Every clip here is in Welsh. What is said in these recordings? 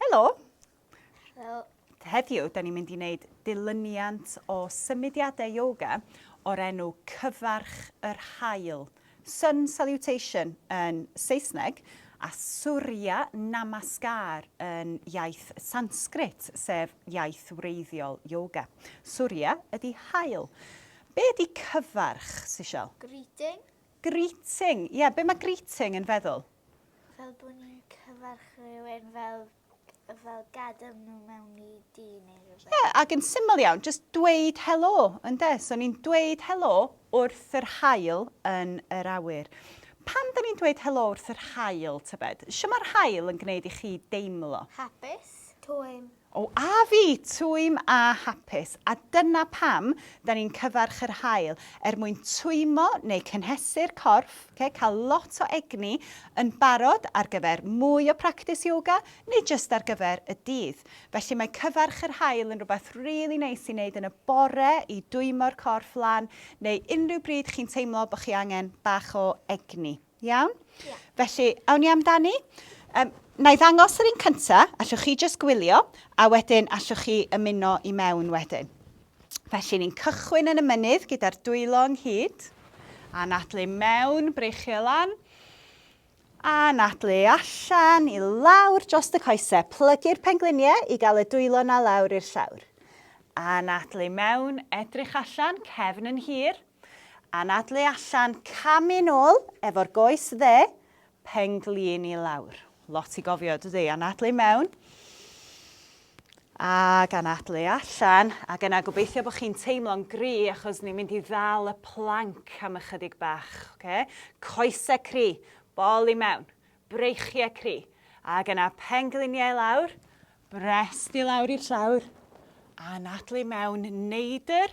Helo! Helo! Heddiw, da ni'n mynd i wneud dilyniant o symudiadau yoga o'r enw Cyfarch yr Haul, Sun Salutation yn Saesneg, a Surya Namaskar yn iaith Sanskrit, sef iaith wreiddiol yoga. Surya ydy haul. Be ydy cyfarch, Sishel? Greeting. Greeting. Ie, be mae greeting yn feddwl? Fel bod ni'n cyfarch rhywun fel fel gadael nhw mewn i dŷ neu rhywbeth. Ie, ac yn syml iawn, just dweud helo, ynde? So ni'n dweud helo wrth yr haul yn yr awyr. Pam da ni'n dweud helo wrth yr haul, tybed? Shwt mae'r haul yn gwneud i chi deimlo? Hapus. Twym. O a fi, twym a hapus, a dyna pam 'da ni'n cyfarch yr haul, er mwyn twymo neu cynhesu'r corff, oce, cael lot o egni, yn barod ar gyfer mwy o practis yoga neu jyst ar gyfer y dydd. Felly mae cyfarch yr haul yn rhywbeth rili neis i wneud yn y bore i dwymo'r corff lan neu unrhyw bryd chi'n teimlo bod chi angen bach o egni. Iawn? Yeah. Felly, awn ni amdani. Um, na i ddangos yr un cynta, allwch chi jyst gwylio, a wedyn allwch chi ymuno i mewn wedyn. Felly, ni'n cychwyn yn y mynydd gyda'r dwylo ynghyd, a nadlu mewn, breichio lan, a nadlu allan i lawr dros y coesau. Plygu'r pengliniau i gael y dwylo na lawr i'r llawr. A nadlu mewn, edrych allan, cefn yn hir, Anadlu allan, camu nôl efo'r goes dde, penglin i lawr. Lot i gofio, dydy? Anadlu mewn, ac anadlu allan, ac yna gobeithio bod chi'n teimlo'n gri achos ni'n mynd i ddal y planc am ychydig bach. Okay? Coesau cri, bol i mewn, breichiau cri, ac yna pengliniau lawr, brest i lawr i'r llawr, anadlu mewn, neidr,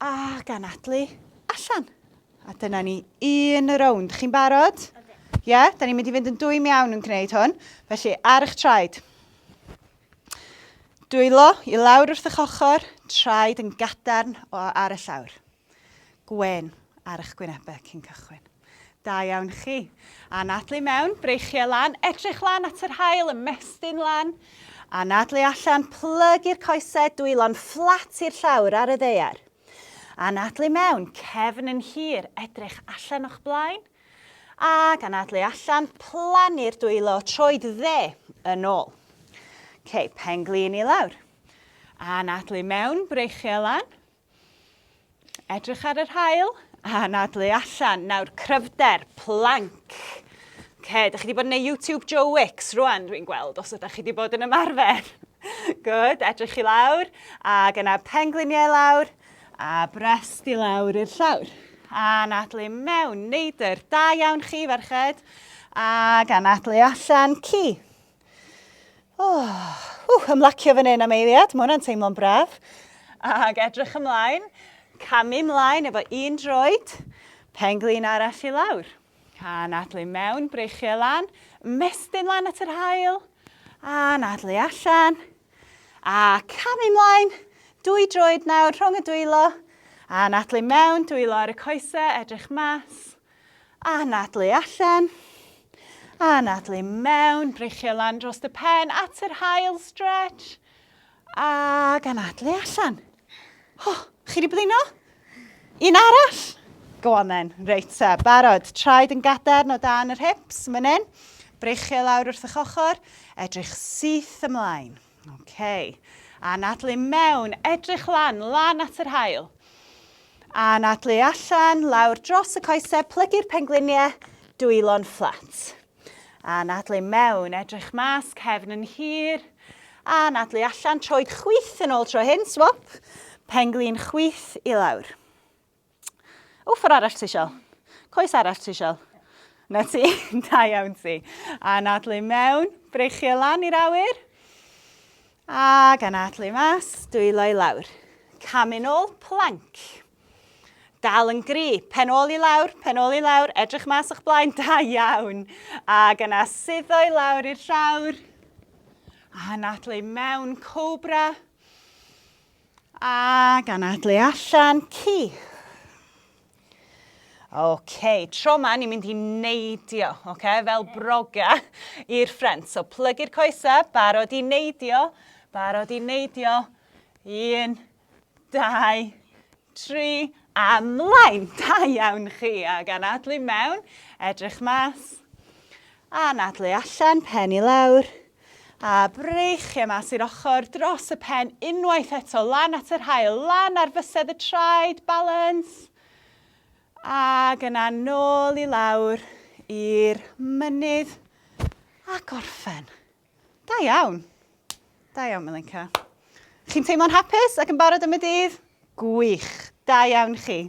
A ganadlu allan. A dyna ni un rownd. Chi'n barod? Ie, yeah, da ni'n mynd i fynd yn dwy'n iawn yn gwneud hwn. Felly, ar eich traed. Dwylo i lawr wrth eich ochr, traed yn gadarn o ar y llawr. Gwen ar eich gwynebau cyn cychwyn. Da iawn chi. Anadlu mewn, breichiau lan, edrych lan at yr haul, ymestyn lan. Anadlu allan, plygu'r coesau, dwylo'n fflat i'r llawr ar y ddaear. Anadlu mewn, cefn yn hir, edrych allan o'ch blaen. Ac anadlu allan, plannu'r dwylo, troed dde yn ôl. OK, pen glin i lawr. Anadlu mewn, breichiau lan. Edrych ar yr hael a anadlu allan. Nawr, cryfder, planc. Okay, da chi wedi bod yn ei YouTube Joe Wicks rwan, dwi'n gweld, os ydych chi wedi bod yn ymarfer. Good, edrych i lawr, ac yna pengliniau lawr, a brest i lawr i'r llawr. A anadlu mewn, neidr, da iawn chi ferched, ac anadlu allan, ci. Oh, uh, ymlacio fan hyn am eiliad, mae hwnna'n teimlo'n braf. Ac edrych ymlaen, camu ymlaen efo un droed, penglin arall i lawr. A nadlu mewn, breichiau lan, mestyn lan at yr hael, a nadlu allan. A camu ymlaen, dwy droed nawr rhwng y dwylo, a nadlu mewn, dwylo ar y coesau, edrych mas. A anadlu allan. A anadlu mewn. Breichio lan dros dy pen at yr hael stretch. A anadlu allan. Ho, chi wedi blino? Un arall. Go on then. Reit ta, barod. Traed yn gadarn o dan yr hips, mynnyn. Breichio lawr wrth eich ochr. Edrych syth ymlaen. Ok. Anadlu mewn, edrych lan, lan at yr haul. Anadlu allan, lawr dros y coesau, plygu'r pengliniau, dwylo'n fflat. Anadlu mewn, edrych mas, cefn yn hir. Anadlu allan, troed chwith yn ôl tro hyn, swap. Penglin chwith i lawr. Wffer arall ti sial. Coes arall ti sial. Na ti, da iawn ti. A nadlu mewn, breichio lan i'r awyr. A gan adlu mas, dwylo i lawr. Camu'n ôl, planc. Dal yn gri, pen ôl i lawr, pen ôl i lawr, edrych mas o'ch blaen, da iawn. A gan asuddo i lawr i'r llawr. A nadlu mewn, cobra. Cobra. A gan adlu allan ci. OK, tro ma ni'n mynd i neidio, OK, fel broga i'r ffrent. So plygu'r coesa, barod i neidio, barod i neidio. Un, dau, tri, a mlaen. Da iawn chi, a gan adlu mewn, edrych mas. A nadlu allan, pen i lawr. A breichiau mas i'r ochr, dros y pen, unwaith eto, lan at yr haul, lan ar fysedd y traed, balans. Ac yna nôl i lawr i'r mynydd a gorffen. Da iawn. Da iawn, Milenka. Chi'n teimlo'n hapus ac yn barod am y dydd? Gwych. Da iawn chi.